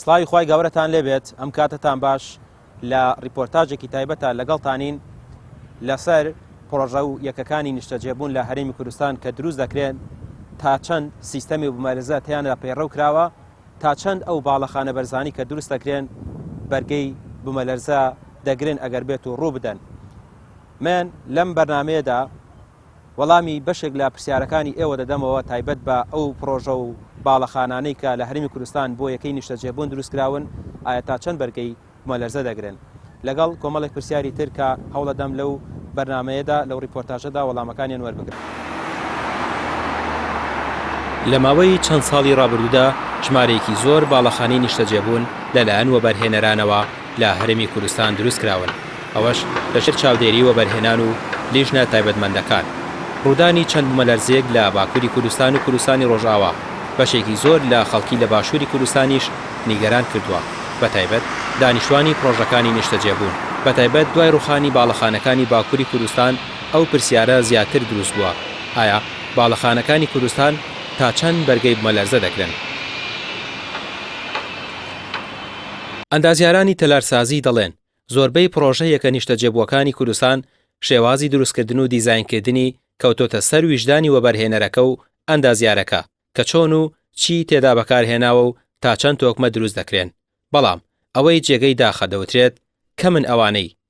سڵاوی خوای گەورەتان لێبێت ئەم کاتتان باش لە ڕیپۆرتاجێکی تایبەتە لەگەڵتانین لەسەر پرۆژە و یەکەکانی نیشتەجێبوون لە هەرێمی کوردستان کە دروست دەکرێن تا چەند سیستەمی بمەرزە تیاندا پەیڕەو کراوە تا چەند ئەو باڵەخانە بەرزانی کە دروست دەکرێن بەرگەی بمەلەرزە دەگرن ئەگەر بێت و ڕوو بدەن من لەم بەرنمەیەدا وەڵامی بەشێک لە پرسیارەکانی ئێوە دەدەمەوە تایبەت بە ئەو پڕۆژە و باڵەخانانەی کە لە هەرێمی کوردستان بۆ یەکەی نیشتەجێبوون دروستکراون ئایا تا چەند بەرگەی بومەلەرزە دەگرن؟ لەگەڵ کۆمەڵێک پرسیاری تر کە هەوڵەدەم لەو بەرنامەیەدا لەو ڕیپۆرتاژەدا وەڵامەکانیان وەربگرم. لە ماوەی چەند ساڵی ڕابردوودا ژمارەیەکی زۆر باڵەخانەی نیشتەجێبوون لەلایەن وەبەرهێنەرانەوە لە هەرێمی کوردستان دروست کراون، ئەوەش لەژێر چاودێری وەبەرهێنان و لیژنە تایبەتمەندەکان. ڕوودانی چەند بومەلەرزەیەک لە باکووری کوردستان و کوردستانی ڕۆژئاوا، بەشێکی زۆر لە خەڵکی لە باشووری کوردستانیش نیگەران کردووە، بەتایبەت دانیشتوانی پڕۆژەکانی نیشتەجێبوون. بەتایبەت دوای ڕووخانی باڵەخانەکانی باکووری کوردستان ئەو پرسیارە زیاتر دروست بووە، ئایا باڵەخانەکانی کوردستان تا چەند بەرگەی بومەلەرزە دەگرن؟ ئەندازیارانی تەلارسازی دەڵێن، زۆربەی پڕۆژە یەکە نیشتەجێبووەکانی کوردستان شێوازی دروستکردن و دیزاینکردنی کەوتۆتە سەر ویژدانی وەبەرهێنەرەکە و ئەندازیارەکە کە چۆن و چیی تێدا بەکارهێناوە و تا چەند تۆکمە دروست دەکرێن بەڵام ئەوەی جێگەی داخە دەوترێت کەمن ئەوانەی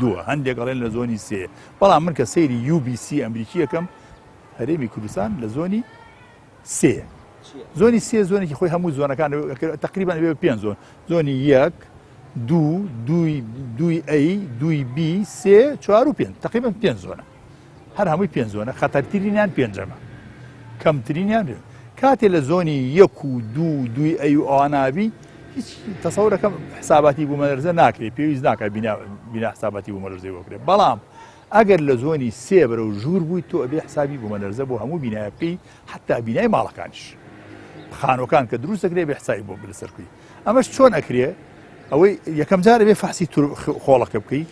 دووە هەندێک ئەڵێن لە زۆنی سێ بەڵام من کە سەیری UBC ئەمریکی یەکەم هەرێمی کوردستان لە زۆنی سێ زۆنی سێ زۆنێکی خۆی هەموو زۆنەکان تقریبان بێ پێ زۆن زۆنی یەک دوو دوی دوی ئەی دوی بی سێ چوار و پێ تقریبان پێ زۆنە هەر هەمووی پێنج زۆنە خەتەرترینیان پێنجەمە کەمترینیان بێت کاتێ لە زۆنی یەک و دوو دوی ئەی و ئەوانابی هیچ تەسەورەکەم حساباتی بوومەلەرزە ناکرێت پێویست ناکە بنا حساباتی بوومەلەرزەی وەکرێت بەڵام ئەگەر لە زۆنی سێ بەرە و ژوور بووی تۆ ئەبێ حسابی بوومەلەرزە بۆ هەموو بینایە بکەی حتا بینای ماڵەکانش خانۆکان کە دروستەکرێ بە حسای بۆ لەسەرکوی ئەمەش چۆن ئەکرێ ئەوەی یەکەم جار بێ فەحسی خۆڵەکە بکەیت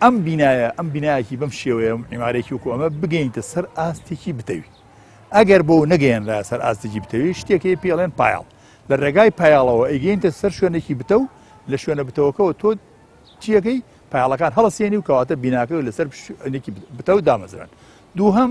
ئەم بینایە ئەم بینایەکی بەم شێوەیە ئیمارێکی وکو ئەمە بگەینتە سەر ئاستێکی بتەوی ئەگەر بۆ نەگەیەنرا سەر ئاستێکی بتەوی شتێکی پێڵێن پایڵ لە ڕێگای پایاڵەوە ئەیگەینتە سەر شوێنێکی بتە و لە شوێنە بتەوەکەەوە تۆ چیەکەی پایاڵەکان هەڵسێنی و کەواتە بیناکە و لەسەر بتە و دامەزران دووهم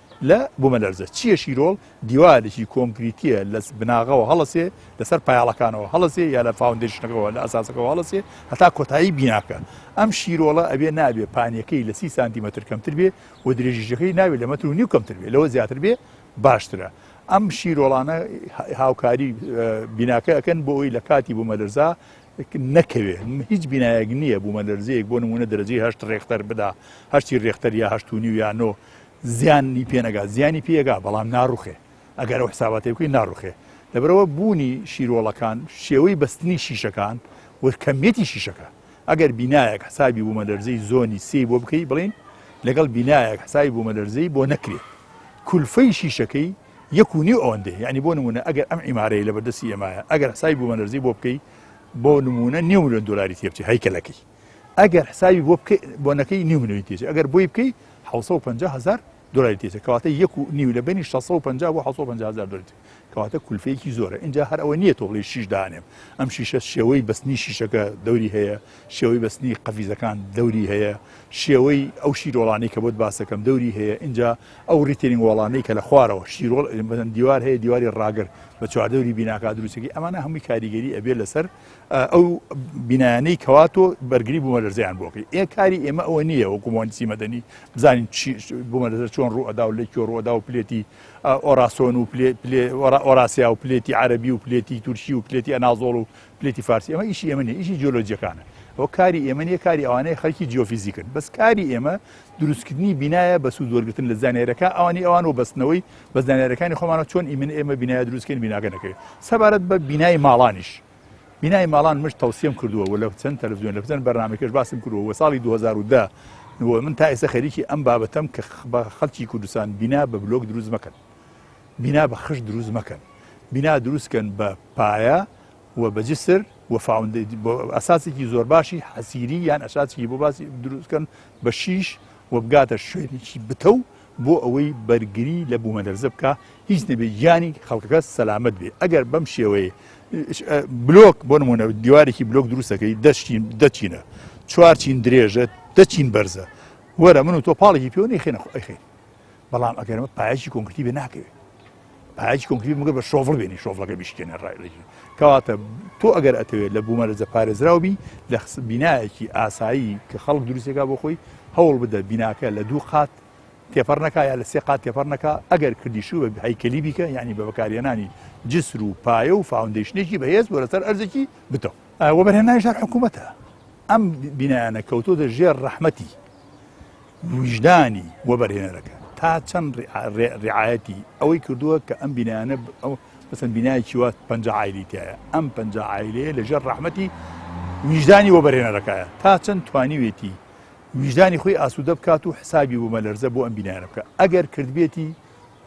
لە بومەلەرزە چیە شیرۆڵ دیوارێکی کۆنکریتیە لە بناغەوە هەڵەسێ لەسەر پایاڵەکانەوە هەڵەسێ یا لە فاوندێشنەکەەوە لە ئەساسەکەەوە هەڵەسێ هەتا کۆتایی بیناکە ئەم شیرۆڵە ئەبێ نابێ پانیەکەی لە سی سانتیمەتر کەمتر بێ و درێژیشەکەی ناوێت لە مەتر و نیو کەمتر بێ لەوە زیاتر بێ باشترە ئەم شیرۆڵانە هاوکاری بیناکە ئەەکەن بۆ ئەوی لە کاتی بوومەلەرزا نەکەوێ هیچ بینایەک نییە بوومەلەرزەیەک بۆ نمونە دەرەجەی هەشت ڕێختەر بدا هەشتی ڕێختەر یا هەشت و نیو یا نۆ زیانی پێ نەگات زیانی پێگا بەڵام ناڕوخێ ئەگەر ئەو حساباتی بکەین ناڕوخێ لەبرەوە بوونی شیرۆڵەکان شێوەی بەستنی شیشەکان و کەمیەتی شیشەکە ئەگەر بینایەک حسابی بوومە لەرزەی زۆنی سی بۆ بکەی بڵین لەگەڵ بینایەک حسابی بوومە لەرزەی بۆ نەکرێت کولفەی شیشەکەی یەکونی ئەوەندێ ینی بۆ نمونە ئەگەر ئەم عیمارەیە لە بەردەسی ئێمایە ئەگەر حسابی بوومە لەرزەی بۆ بکەی بۆ نمونە نێو لە دلاری تێبچی هەیکەلەکەی ئەگەر حسابی بۆ بکەی بۆنەکەی نیو ملیۆنی تێچێ ئەگەر بۆی بکەی 650 هزار دلاری تێچێ کەواتە یەک و نیو لە بینی 650 بۆ 650 هزار دلار کەواتە کولفەیەکی زۆرە اینجا هەر ئەوە نییە تۆ بڵی شیش دانێم ئەم شیشە شێوەی بەستنی شیشەکە دەوری هەیە شێوەی بەستنی قەفیزەکان دەوری هەیە شێوەی ئەو شیرۆڵانی کە بۆت باسەکەم دەوری هەیە اینجا ئەو ریتێنی وڵانەی کە لە خوارەوە شیرۆڵ بەن دیوار هەیە دیواری ڕاگر بە چواردەوری بیناکە دروستەکەی ئەمانە هەمووی کاریگەری ئەبێ لەسەر ئەو بینایانەی کەوا تۆ بەرگری بوومەلەرزەیان بۆ بکەیت ئێ کاری ئێمە ئەوە نییە وەکو مۆنسی مەدەنی بزانین بوومەلەزە چۆن ڕووەدا و لە کۆ ڕووەدا و پلێتی ئۆراسۆن و ئۆراسیا و پلێتی عربی و پلێتی تورکی و پلێتی ئەنازۆڵ و پلێتی فارسی ئەمە ئیشی ئێمە نیە ئیشی جیۆلۆجیەکانە ئەو کاری ئێمە نیە کاری ئەوانەیە خەڵکی جیۆفیزیکن بەس کاری ئێمە دروستکردنی بینایە بە سوود وەرگرتن لە زانیارەکە ئەوانی ئەوان و بەستنەوەی بە زانیارەکانی خۆمانەوە چۆن ئیمن ئێمە بینایە دروستکەین بیناگە نەکەین سەبارەت بە بینای ماڵانیش بینای ماڵان مش تەوسیم کردووە و لە چەند تەلەڤزیۆن لە بزن بەرنمەکەش باسم کردووە و ساڵی 2010 نووە من تا ئێستا خەریکی ئەم بابەتەم کە بە خەڵکی کوردستان بینا بە بلۆک دروست مەکەن بینا بە خش دروست مەکەن بینا دروستکەن بە پایە و بەجسر وفااندی ئەساسێکی زۆر باشی حەسیری یان ئەساسیی بۆ باسی دروستکەن بە شیش و بگاتە شوێنێکی بتەو بۆ ئەوەی بەرگری لە بوومەلەرزە بکا هیچ نەبێ گیانی خەڵکەکە سەلامەت بێ ئەگەر بەم شێوەیە بلۆک بۆ نمونە دیوارێکی بلۆک دروستەکەی دەشتین دەچینە چوارچین درێژە دەچین بەرزە وەرە من و تۆ پاڵێکی پێوەنی خێنە خۆ ئەخێن بەڵام ئەگەرمە پایەکی کۆنکرتی بێ ناکەوێت پایەکی کۆنکرتی مگە بە شۆڤڵ بێنی شۆڤڵەکە بیشکێنە ڕایلێکی کەواتە تۆ ئەگەر ئەتەوێت لە بوومە لە جەپارێزراوبی لە بینایەکی ئاسایی کە خەڵک دروستێکا بۆ خۆی هەوڵ بدە بیناکە لە دوو قات تێپەر نەکە یا لە سێ قات تێپەر نەکە ئەگەر کردیشو بە هەیکەلی بیکە ینی بە بەکارێنانی جسر و پایە و فاوندیشنێکی بەهێز بۆ لەسەر ئەرزێکی بتەوە وەبەرهێنانیش هەر حکوومەتە. ئەم بینایانە کەوتۆتە ژێر ڕەحمەتی ویژدانی وەبەرهێنەرەکە تا چەند ڕعاەتی ئەوەی کردووە کە ئەم بینایانە ئەو بەسەند بینایکی وات پ عیلیتایە ئەم پ عیلەیە لەژێر ڕەحمەتی ویژدانی وەبەرهێنەرەکەە تا چەند توانیوێتی ویژدانی خۆی ئاسوودە بکات و حسابی بوومە لەرزە بۆ ئەم بینایانە بکە ئەگەر کردبێتی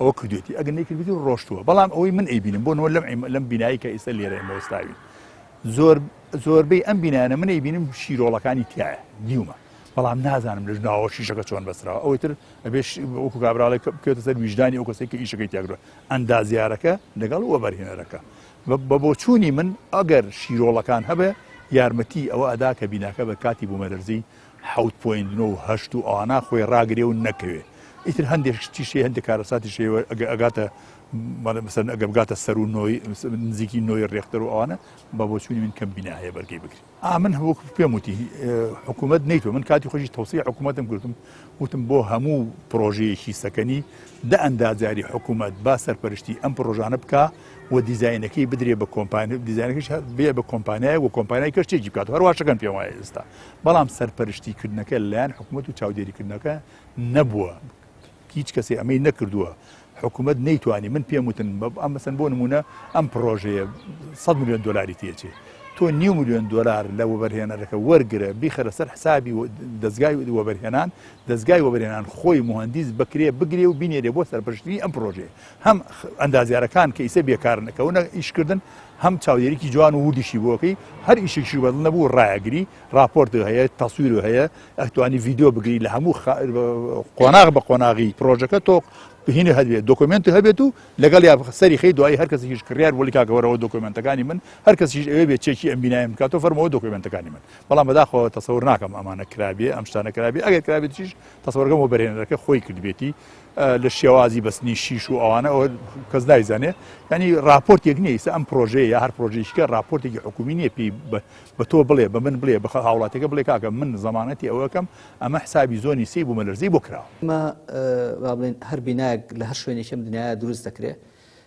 ئەوە کردوێتی ئەگە نەیکردوێتی و ڕۆشتووە بەڵام ئەوەی من ئەیبینم بۆ نەوە لەم لەم بینایی کە ئیستا لێرە ئێمە وەستاوین زۆر زۆربەی ئەم بینانە منەی بینم شیرۆڵەکانی تایە دیومە بەڵام نازانم لەش ناوە شیشەکە چۆن بەسراوە ئەوەی تر ئەبێش وەکو کابراڵێک بکێتە سەر ویژدانی ئەو کەسێکی ئیشەکەی تێگرە ئەندازیارەکە لەگەڵ وە بەرهێنەرەکە بە بۆچوونی من ئەگەر شیرۆڵەکان هەبێ یارمەتی ئەوە ئەدا کە بیناکە بە کاتی بوومەلەرزی حەوت پۆینت نۆ و هەشت و ئەوانە خۆی ڕاگرێ و نەکەوێ ئیتر هەندێک شتیش هەیە هەندێک کارەساتیش هەیە وە- ئەگە ئەگاتە مەڵێ مەسەن ئەگە بگاتە سەر و نۆی نزیکی نۆی ڕێختەر و ئەوانە بە بۆچوونی من کەم بینا هەیە بەرگەی بگری ئا من هەوەک پێم وتی اه، حکوومەت نەیتوە من کاتی خۆشی تەوسیە حکوومەتم کردم وتم بۆ هەموو پڕۆژەیەکی سەکەنی دە ئەندازیاری حکوومەت با سەرپەرشتی ئەم پڕۆژانە بکا و دیزاینەکەی بدرێ بە کۆمپانیا دیزاینەکەش هە- بێ بە کۆمپانیای و کۆمپانیای کەشتێکی بکات و هەرواشەکەن پێم وایە ئێستا بەڵام سەرپەرشتی کردنەکە لەلایەن حکوومەت و چاودێریکردنەکە نەبووە هیچ کەسی ئەمەی نەکردووە حکوومەت نەیتوانی من پێم وتن ئەم بەسەن بۆ نمونە ئەم پرۆژەیە 100 میلیۆن دلاری تێچێ تۆ نیو میلیۆن دلار لە وەبەرهێنەرەکە وەرگرە بیخەرە سەر حسابی دەستگای وەبەرهێنان دەستگای وەبەرێنان خۆی مهندیز بکرێ بگرێ و بینێرێ بۆ سەرپشتنی ئەم پرۆژێ هەم ئەندازیارەکان کە ئیسە بێکارن ئەکەونە ئیشکردن هەم چاودێریکی جوان و وردیشی بۆکەی هەر ئیشێکی بەدڵ نەبوو ڕایەگری راپۆرت هەیە تەسویر هەیە ئەتوانی ڤیددیو بگری لە هەموو قۆناغ بە قۆناغی پرۆژەکە تۆ بهینە هەبێت دۆکمنت هەبێت و لەگەڵ یا سەری خی دوایی هەر کەسیش کڕیار وەلی کاگەوەرەوە دۆکمنتەکانی من هەر کەسیش ئەوێ بێت چێکی ئەم بینایم بکاتۆ فەرمەوە دۆکمنتەکانی من بەڵام بەداخۆ تەسەور ناکەم ئەمانە کرابێ ئەم شتانە کرابێ ئەگەر کرابێتیش تەسەوەرگەم و بەرێنەرەکە خۆی کردبێتی لە شێوازی بەستنی شیش و ئەوانە ئەوە کەس دایزانێ ینی راپۆرتێک نیە ئیسە ئەم پرۆژەیە یا هەر پرۆژیشکە راپۆرتێکی حکومی نیە پێی بە تۆ بڵێ بە من بڵێ بە هاوڵاتەکە بڵێ کاکە من زمانەتی ئەوەکەم ئەمە حسابی زۆنی سی بوو مەلەرزی بۆ کراوە مە بڵێن هەر بینایەک لە هەر شوێنێکم دنیاە دروست دەکرێت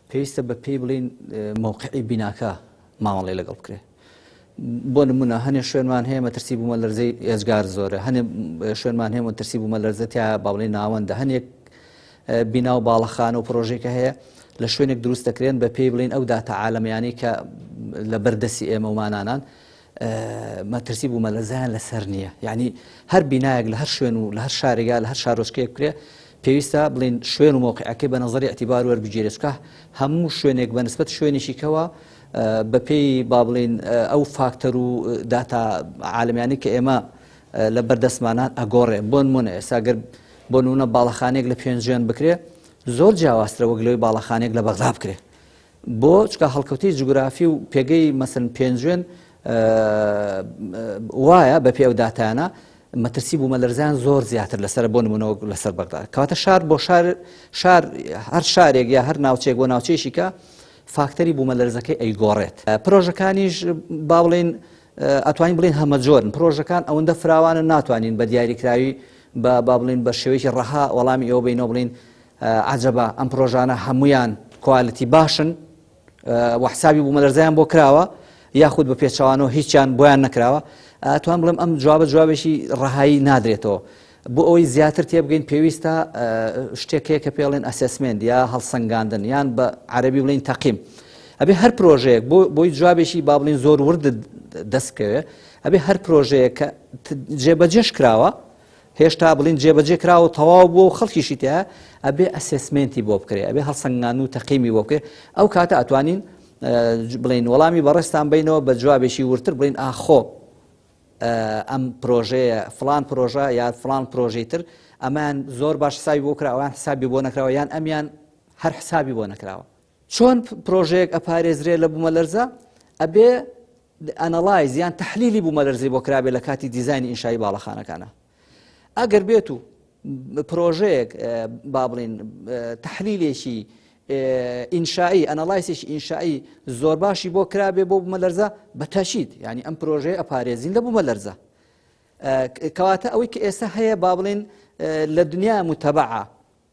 پێویستە بە پێی بڵین مووقعی بیناکە مامەڵێ لەگەڵ بکرێت بۆ نمونە هەنێ شوێنمان هەیە مەترسی بوومە لەرزەی ئێجگار زۆرە هەنێ شوێنمان هەیە مەترسی بوومە لەرزە تیا باڵی ناوەندە هەنێک بینا و باڵەخانە و پرۆژێکە هەیە لە شوێنێک دروست دەکرێن بە پێی بڵین ئەو داتا عاالمیانی کە لە بەردەسی ئێمەمانانان مەترسی بوومە لە زیان لەسەر نییە یعنی هەر بینایەک لە هەر شوێن و لە هەر شارێگا لە هەر شارۆچکەیە بکرێ پێویستە بڵین شوێن و مۆقعەکەی بە نظری اعتیبار وەربگیرێتکە هەموو شوێنێک بە نسبت شوێنێکیکەوە بەپێی با بڵێین ئەو فاکتەر و داتا عالمیانی کە ئێمە لە بەردەستمانان ئەگۆڕێ بۆن منە ئێساگەر بۆ نونە باڵەخانێک لە پێنجێن بکرێ زۆر جیاوازترە وەک لەوەی باڵەخانێک لە بەغدا بکرێ بۆ چکە هەڵکەوتی جوگرافی و پێگەی مەسن پێنجێن وایە بە پێ و داتانە مەترسی بوومە لەرزان زۆر زیاتر لەسەر بۆ نمونەوە لەسەر بەغدا کاتە شار بۆ شار شار هەر شارێک یا هەر ناوچێک بۆ ناوچێشیکە فاکتەری بوومەلەرزەکەی ئەیگۆڕێت پرۆژەکانیش با بڵێن ئەتوانین بڵین هەمەجۆرن پرۆژەکان ئەوەندە فراوانە ناتوانین بە دیاریکراوی بە با بڵین بە شێوەیەکی ڕەها وەڵامی ئەوە بینەوە بڵین عجبە ئەم پرۆژانە هەمویان کوالەتی باشن وەحسابی بوو مەلەرزیان بۆ کراوە یاخود بە پێچوانەوە هیچیان بۆیان نەکراوە توان بڵم ئەم جوابە جوابێکی ڕەهایی نادرێتەوە بۆ ئەوەی زیاتر تێبگەین پێویستە شتێک هەیە کە پێڵێن ئەسسمنت یا هەڵسەنگاندن یان بە عەربی بڵین تەقیم ئەبێ هەر پرۆژەیەک بۆ بۆی جوابێکی با بڵین زۆر ورد دەست بکەوێ ئەبێ هەر پرۆژەیە کە جێبەجێش کراوە هێشتا بڵین جێبەجێ کرا و تەواو بووە و خەڵکیشی تیا ئەبێ ئەسسمنتی بۆ بکرێ ئەبێ هەڵسەنگان و تەقیمی بۆ بکرێ ئەو کاتە ئەتوانین بڵین وەڵامی بەڕێستان بینەوە بە جوابێکی ورتر بڵین ئاخۆ ئەم پرۆژەیە فڵان پرۆژە یا فڵان پرۆژەی تر ئەمان زۆر باش حسابی بۆ کرا ئەوان حسابی بۆ نەکراوە یان ئەمیان هەر حسابی بۆ نەکراوە چۆن پرۆژەیەک ئەپارێزرێ لە بوومە لەرزە ئەبێ ئەنەڵایز یان تحلیلی بوومە لەرزی بۆ کرابێ لە کاتی دیزانی ئینشایی باڵەخانەکانە ئەگەر بێت و پرۆژەیەک با بڵین تحلیلێکی ئینشایی ئەنەڵایسێکی ئینشایی زۆر باشی بۆ کرابێ بۆ بمە لەرزە بە تەشید ینی ئەم پرۆژەیە ئەپارێزین لە بوومە لەرزە کەواتە ئەوەی کە ئێستا هەیە با بڵێن لە دنیا متەبعە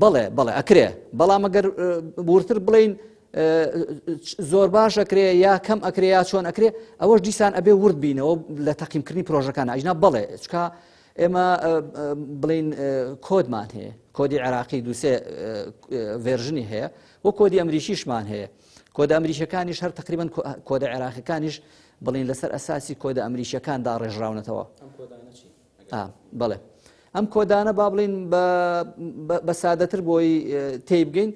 بەڵێ بەڵێ ئەکرێ بەڵام ئەگەر بورتر بڵین زۆر باش ئەکرێ یا کەم ئەکرێ یا چۆن ئەکرێ ئەوەش دیسان ئەبێ ورد بینەوە لە تەقیمکردنی پرۆژەکان ئەجنا بڵێ چکە ئێمە بڵین کۆدمان هەیە کۆدی عێراقی دووسێ ڤێرژنی هەیە و کۆدی ئەمریکیشمان هەیە کۆدە ئەمریکەکانیش هەر تقریبان کۆدە عێراقەکانیش بڵین لەسەر ئەساسی کۆدە ئەمریکیەکان داڕێژراونەتەوە ئا بەڵێ ئەم کۆدانە با بڵین بە سادەتر بۆی تێی بگەین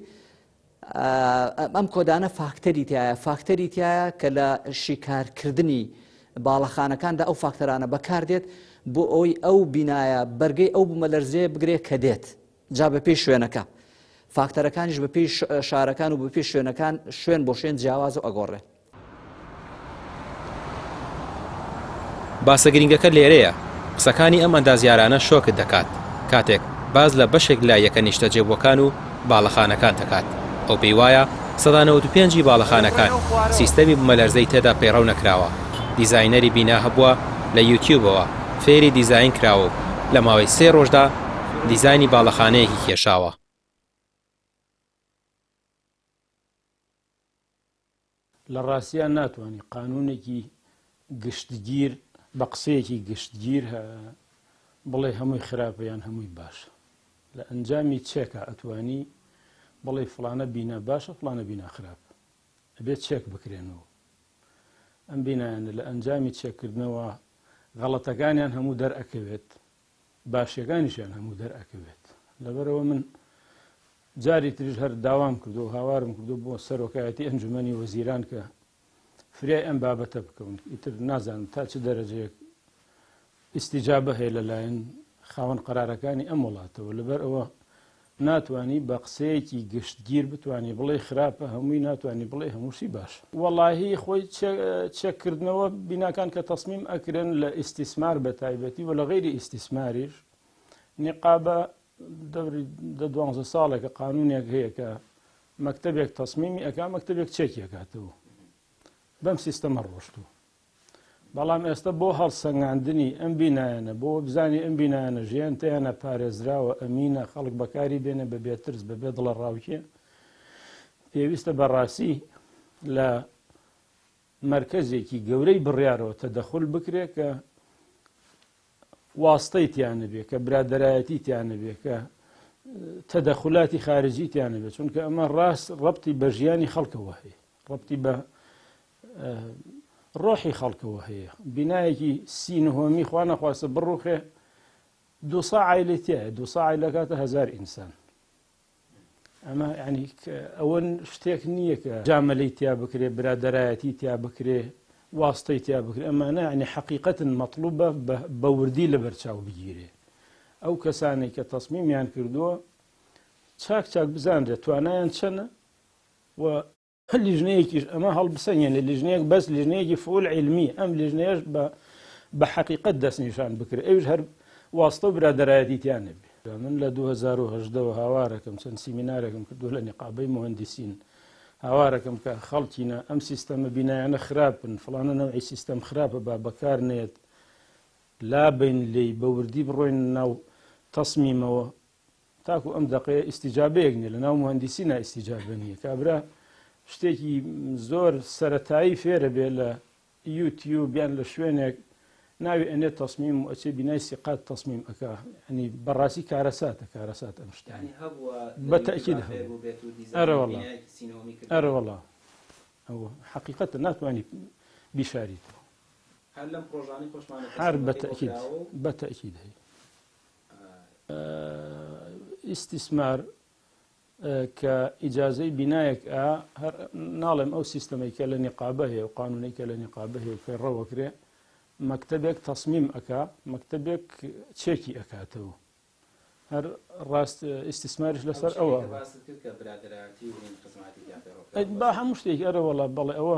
ئەم کۆدانە فاکتەری تایە فاکتەری تایە کە لە شیکارکردنی باڵەخانەکاندا ئەو فاکتەرانە بەکاردێت بۆ ئەوی ئەو بینایە بەرگەی ئەو بوومە لەرزێ بگرێت کە دێت جا بەپێی شوێنەکە فاکتەرەکانیش بەپێی شارەکان و بەپێی شوێنەکان شوێن بۆ شوێن جیاواز و ئەگۆڕێ. باسە گرینگەکە لێرەیە قسەکانی ئەم ئەندازیارانە شۆکت دەکات کاتێک باس لە بەشێک لە یەکە نیشتەجێبووەکان و باڵەخانەکان دەکات ئەو پێی وایە سەدا 95 ی باڵەخانەکان سیستەمی بمەلەرزەی تێدا پەیڕەو نەکراوە دیزاینەری بینا هەبووە لە یوتیوبەوە فێری دیزاین کراوە و لە ماوەی سێ ڕۆژدا دیزاینی باڵەخانەیەکی کێشاوە. لە ڕاستیا ناتوانی قانوونێکی گشتگیر بە قسەیەکی گشتگیر بڵێ هەمووی خراپە یان هەمووی باشە. لە ئەنجامی چێکە ئەتوانی بڵێ فلانە بینا باشە فلانە بینا خراپ. ئەبێت چێک بکرێنەوە. ئەم بینایانە لە ئەنجامی چێکردنەوە غەڵەتەکانیان هەموو دەرئەکەوێت باشیەکانیشیان هەموو دەرئەکەوێت لەبەرەوە من جاری تریش هەر داوام کردو و هاوارم کردو بۆ سەرۆکایەتی ئەنجومنی وەزیران کە فریای ئەم بابەتە بکەون ئیتر نازانم تا چ دەرەجەیەک ئیسیجابە هەیە لەلایەن خاوەن قرارەکانی ئەم وڵاتەوە لەبەر ئەوە ناتوانی بە قسەیەکی گشتگیر بتوانی بڵێی خراپە هەمووی ناتوانی بڵێی هەمووشی باشە. وەڵاهی خۆی چێک کردنەوە بیناکان کە تەسمیم ئەکرێن لە ئیستیسمار بە تایبەتی و لە غەیری ئیستیسماریش نیقابە دەوری دە دوانزە ساڵێکە قانونێک هەیە کە مەکتەبێک تەسمیمی ئەکا مەکتەبێک چێکی ئەکاتەوە بەم سیستەمە ڕۆشتوو بەڵام ئێستە بۆ هەڵسەنگاندنی ئەم بینایانە بۆ وەبزانی ئەم بینایانە ژیان تیانا پارێزراوە ئەمینە خەڵک بەکاری بێنێ بە بێ ترس بە بێ دڵە ڕاوکێ پێویستە بەڕاستی لە مرکزێکی گەورەی بڕیارەوە تەدەخل بکرێ کە واستەی تیانەبێ کە برادایەتی تیانەبێ کە تەدەخلاتی خارجی تیانەبێت چونکە ئەمە ڕاست ڕپتی بە ژیانی خەڵکەوە هەیە ڕپتی بە ڕۆحی خەڵکەوە هەیە بینایەکی سی نهۆمی خوا نەخواستە بڕوخێ دو سا عیلی تایە دو سا عیلەکاتە هزار ئینسان ئەمە ینی ئەوەن شتێک نییە کە جامەلی تیا بکرێ برادایەتی تیا بکرێ واستەی تیا بکرێ ئەمانە ینی حقیقەتن مەطلوبە بە وردی لە بەرچاو بگیرێ ئەو کەسانی کە تەسمیمیان کردووە چاک چاک بزانرێت توانایان چەنە و هەر لیژنەیەکیش ئەمە هەڵبسەنگێنێ لیژنەیەک بەس لیژنەیەکی فول علمی ئەم لیژنەیەش بە بە حقیقت دەستنیشان بکرێت ئەوش هەر واستە و برادایەتی تیان نەبێ من لە 2010ەوە هاوارەکەم چەند سیمینارێکم کردو لە نقابەی مهندسین هاوارەکەم کە خەڵکینە ئەم سیستەمە بینایانە خراپن فلانە نەوەی سیستەم خراپە با بەکار نێت لا بین لی بەوردی بڕۆین ناو تەسمیمەوە تاکو ئەم دەقەیە ئیسیجابەیەک نیە لە ناو مهندسی نا ئیسیجابە نیە کابرا شتێکی زۆر سەتایی فێرە بێ لە یوتیوب بیان لە شوێنێک ناوی ئەنێ تەسمیم و ئەچێ بینای سیقات تەسمیم ئەک ئەنی بەڕاستی کارەساتە کارەسات ئەم شتانی بەتەکیل ئەرەوەڵا ئەرەوەڵا ئەو حقیقەتە ناتوانانی بیشاریتەوە هەر بەتەکیل بەتەکیل هەیە ئیستیسمار کە ئیجازەی بینایەک ئا هەر ناڵێم ئەو سیستەمەی کە لە نیقابە هەیە و قانونەی کە لە نیقابە هەیە و پەیڕەوەکرێ مەکتتەبێک تەسمیم ئەک مەکتتەبێک چێکی ئەکاتەوە هەر ڕاست ئیسیسمارش لەسەر ئەوە با هەموو شتێک ئەرەوەڵا بەڵێ ئەوە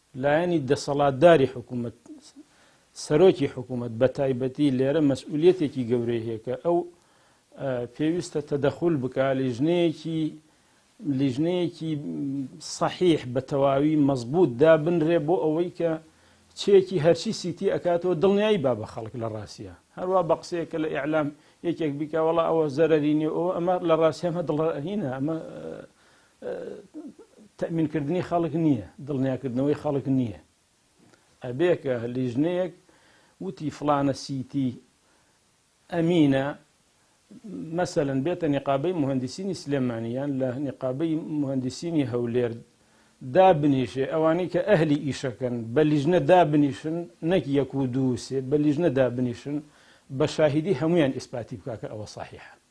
لایەنی دەسەڵاتداری حکوومەت، سەرۆکی حکوومەت بە تایبەتی لێرە مەسئولیەتێکی گەورەی هەیە کە ئەو پێویستە تەدەخول بکە لیژنەیەکی لیژنەیەکی صحیح بە تەواوی مەزبوط دابنرێ بۆ ئەوەی کە چێکی هەرچی سیتی ئەکاتەوە دڵنیایی با بە خەڵک لە ڕاستە هەروە بە قسەیە کە لە ئیعلام یەکێک بیکە وڵا ئەوە زەرری نیە ئەوە ئەمە لە ڕاستیەمە دڵڕهینە ئەمە تەئمین کردنی خەڵک نیە دڵنیا کردنەوەی خەڵک نیە ئەبێ کە لیژنەیەک وتی فڵانە سیتی ئەمینە مەسەن بێتە نقابەی مهندسینی سلێمانیان لە نقابەی مهندسینی هەولێر دا بنیشێ ئەوانەی کە ئەهلی ئیشەکەن بە لیژنە دا بنیشن نەک یەک و دووسێ بە لیژنە دا بنیشن بە شاهیدی هەمویان ئیسپاتی بکە کە ئەوە صحیحە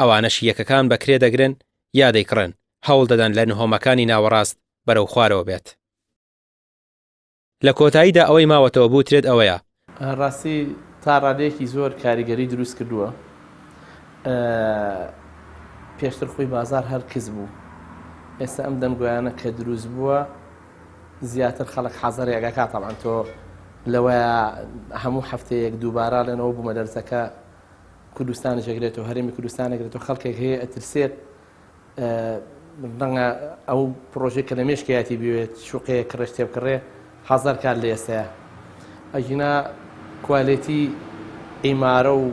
ئەوانەش یەکەکان بە کرێ دەگرن یا دەیکڕن، هەوڵ دەدەن لە نهۆمەکانی ناوەڕاست بەرەو خوارەوە بێت. لە کۆتاییدا ئەوەی ماوەتەوە بوترێت ئەوەیە. ڕاستی تا ڕادەیەکی زۆر کاریگەری دروست کردووە. پێشتر خۆی بازار هەر کز بوو. ئێستا ئەم دەنگۆیانە کە دروست بووە زیاتر خەڵک حەزەر یاگاکات تەبعەن تۆ لەوەیە هەموو هەفتەیەک دووبارە لەنەوە بوومە دەرسەکە کوردستانش ئەگرێتەوە هەرێمی کوردستان ئەگرێتەوە خەڵکێک هەیە ئەترسێت ڕەنگە ئەو پرۆژێک کە لە مێشکیاتی بوێت شوقەیە کڕێش تێ بکڕێ هەزار کار لە ئێستەیە ئەژینا کوالێتی ئیمارە و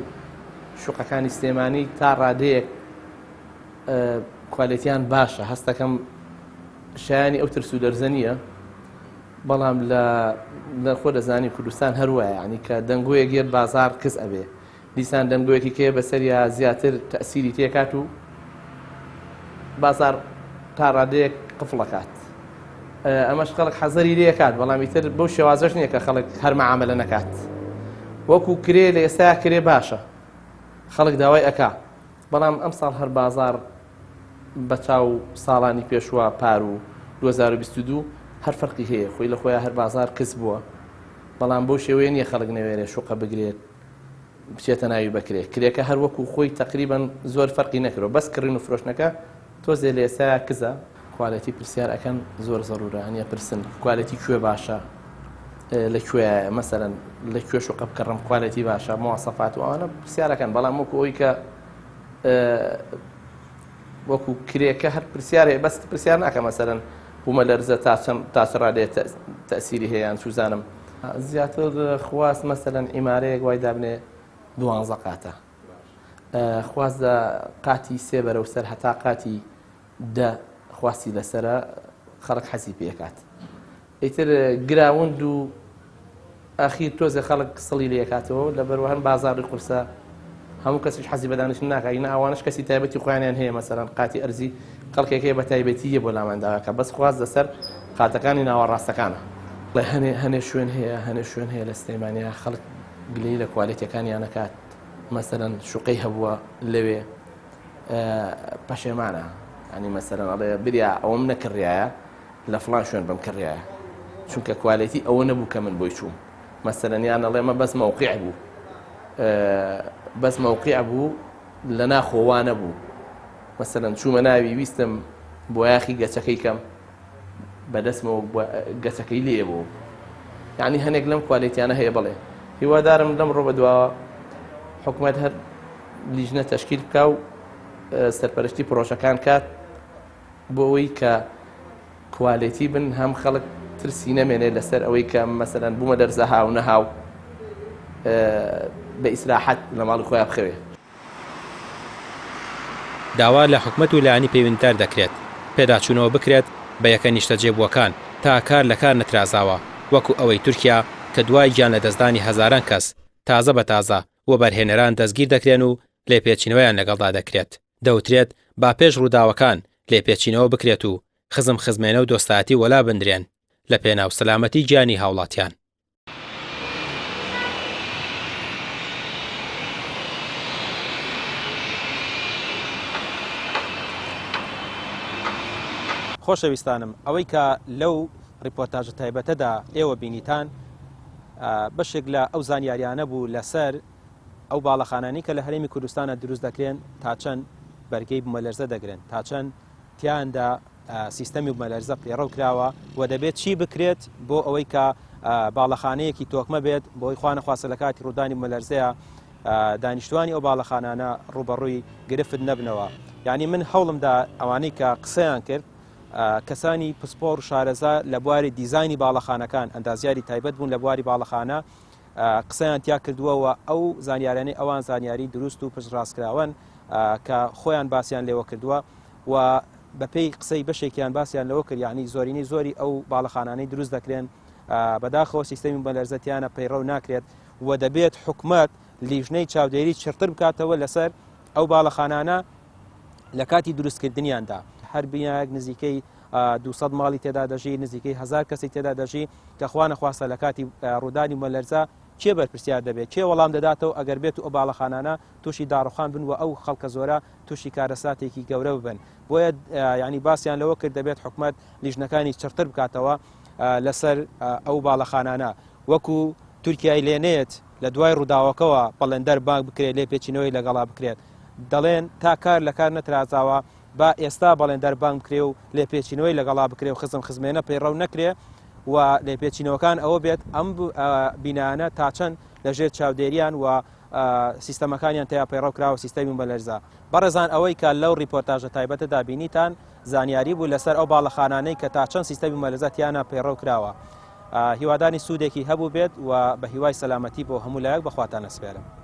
شوقەکانی سلێمانی تا ڕادەیەک کوالێتیان باشە هەستەکەم شایانی ئەو ترس و لەرزە نییە بەڵام لە لە خۆ دەزانی کوردستان هەر وایە یانی کە دەنگۆیەک یەت بازاڕ کز ئەبێ دیسان دەنگۆیەکی کێ بەسەریا زیاتر تەئسیری تێکات و بازاڕ تا ڕادەیەک قفڵ ئەکات ئەمەش خەڵک حەزەری لێ کات بەڵام ئیتر بەو شێوازەش نییە کە خەڵک هەر مەعاملە نەکات وەکو کرێ لە ئێستا کرێ باشە خەڵک داوای ئەکا بەڵام ئەم ساڵ هەر بازار بەچاو ساڵانی پێشوە پار و دوو هەزار و بیست و دوو هەر فەرقی هەیە خۆی لە خۆیا هەر بازار قرس بوە بەڵام بەو شێوەیە نیە خەڵک نەوێرێ شوقە بگرێت بچێتە ناوی بەکرێ کرێکە هەر وەکو خۆی تەقریبەن زۆر فەرقی نەکرۆ بەس کڕین و فرۆشتنەکە تۆزێ لە ئێستایا کزە کوالێتی پرسیار ئەکەن زۆر زەرورە هەنیە پرسن کوالێتی کوێ باشە لە کوێ مەسەرەن لە کوێ شوقە بکڕم کوالێتی باشە مواسەفات و ئەوانە پرسیارەکەن بەڵام وەکو ئەوی کە وەکو کرێکە هەر پرسیارێ بەس پرسیار ناکە مەسەرەن بوومە لەرزە تاچڕا لێ تەسیری هەیەیان سوزانم زیاتر خواست مەسەەن ئیمارەیەک وای دابنێ دوانزە قاتە خواست لە قاتی سێ بەرە و سەر هەتا قاتی دە خواستی لەسرە خەڵک حەزی پێکات ئیتر گراوند و ئاخیر تۆزێ خەڵک سڵی لێکاتەوە و لەبەر وەهەن بازاڕی قورسە هەموو کەسیش حەزی بەدانیشتن ناکا ئینە ئەوانش کەسی تایبەتی خۆیانیان هەیە مەسەلەن قاتی ئەرزی کەڵکێک هەیە بە تایبەتی یە بۆ لامان داواکە بەس خواست لەسەر قاتەکانی ناوەڕاستەکانە. بەڵێ هەنێ هەنێ شوێن هەیە هەنێ شوێن هەیە لە سلێمانیا خەڵک گلەی لە کوالێتیەکانیان نەکات مەسەلەن شوقەی هەبووە لەوێ پەشێمانە یانی مەسەلەن ئەڵێ بریا ئەوەم نەکڕایە لە فڵان شوێن بم کڕیایە چونکە کوالێتی ئەوە نەبوو کە من بۆی چووم مەسەرەن یان ئەڵێ مە بەس مەوقع بوو بەس مەوقع بوو لە ناخۆوانە بوو مەسەرەن چوومە ناوی ویستم بۆ یاخی گەچەکەی کەم بەدەستمەوە گەچەکەی لێ بوو یعنی هەنێک لەم کوالێتیانە هەیە بڵێ هیوادارم لەم ڕۆ بەدواوە حکوومەت هەر لیژنە تەشکیل بکە و سەرپەرشتی پرۆژەکان کات بۆ ئەوەی کە کوالێتی بن هەم خەڵک ترسی نەمێنێ لەسەر ئەوەی کە مەسەلەن بوومە دەرزە هاو نەهاو بە ئیسراحەت لە ماڵی خۆیان بخەوێ. داوا لە حکومەت و لایەنی پەیوەندیدار دەکرێت پێداچوونەوە بکرێت بە یەکە نیشتەجێبووەکان تا کار لە کار نەترازاوە وەکو ئەوەی تورکیا کە دوای گیان لەدەستدانی هەزاران کەس تازە بە تازە وەبەرهێنەران دەستگیر دەکرێن و لێپێچینەوەیان لەگەڵدا دەکرێت. دەوترێت با پێش ڕووداوەکان لێپێچینەوە بکرێت و خزم خزمێنە و دۆستایەتی وەلا بندرێن لە پێناو سەلامەتی گیانی هاوڵاتیان. خۆشەویستانم ئەوەی کە لەو ڕیپۆرتاژە تایبەتەدا ئێوە بینیتان بەشێک لە ئەو زانیاریانە بوو لەسەر ئەو باڵەخانانی کە لە هەرێمی کوردستانە دروست دەکرێن تا چەند بەرگەی بمەلەرزە دەگرن تا چەند تیاندا سیستەمی بمەلەرزە پێڕەو کراوە و دەبێت چی بکرێت بۆ ئەوەی کە باڵەخانەیەکی تۆکمە بێت بۆی خوانەخواستە لە کاتی ڕوودانی بمەلەرزەیە دانیشتوانی ئەو باڵەخانانە ڕوبەڕووی گرفت نەبنەوە یعنی من هەوڵمدا ئەوانەی کە قسەیان کرد کەسانی پسپۆر شارەزا لە بواری دیزانی باڵەخانەکان ئەندازیاری تایبەت بوون لە بواری باڵەخانە قسەیان تیا کردووە و ئەو زانیاریانەی ئەوان زانیاری دروست و پشت ڕاستکراوەن کە خۆیان باسییان لێوە کردووە و بەپێی قسەی بەشێکیان باسییان لەوە کرد یعنی زۆرینەی زۆری ئەو باڵەخانانەی دروست دەکرێن بەداخەوە سیستەمی بەلەرزەتیانە پەیڕەو ناکرێت و دەبێت حکومت لیژنەی چاودێری چڕتر بکاتەوە لەسەر ئەو باڵەخانانە لە کاتی دروستکردنیاندا هەر بینایەک نزیکەی دوو سەد ماڵی تێدا دەژی، نزیکەی هەزار کەسی تێدا دەژی، کە خوا نەخواستە لە کاتی ڕوودانی بوومەلەرزە کێ بەرپرسیار دەبێت، کێ وەڵام دەداتەوە ئەگەر بێت و ئەو باڵەخانانە تووشی داڕووخان بن و ئەو خەڵکە زۆرە تووشی کارەساتێکی گەورە ببن. بۆیە یانی باسیان لەوە کرد دەبێت حکومەت لیژنەکانی چڕتر بکاتەوە لەسەر ئەو باڵەخانانە وەکو تورکیای لێ نێت لە دوای ڕووداوەکەوە بەڵێندەر بانگ بکرێت لێپێچینەوەی لەگەڵا بکرێت. دەڵێن تا کار لە کار نەترازاوە با ئێستا بەڵێندار بانگ بکرێ و لێپێچینەوەی لەگەڵا بکرێ و خزم خزمێنە پەیڕەو نەکرێ و لێپێچینەوەکان ئەوە بێت ئەم بینانە تا چەند لەژێر چاودێریان و سیستەمەکانیان تیا پەیڕەو کراوە سیستەمی بەلەرزە بەڕێزان ئەوەی کە لەو ریپۆرتاژە تایبەتە دابینیتان زانیاری بوو لەسەر ئەو باڵەخانانەی کە تا چەند سیستەمی مەلەزەتیانە پەیڕەو کراوە هیوادانی سوودێکی هەبوو بێت و بە هیوای سەلامەتی بۆ هەموو لایەک بەخواتان نەسپێرم.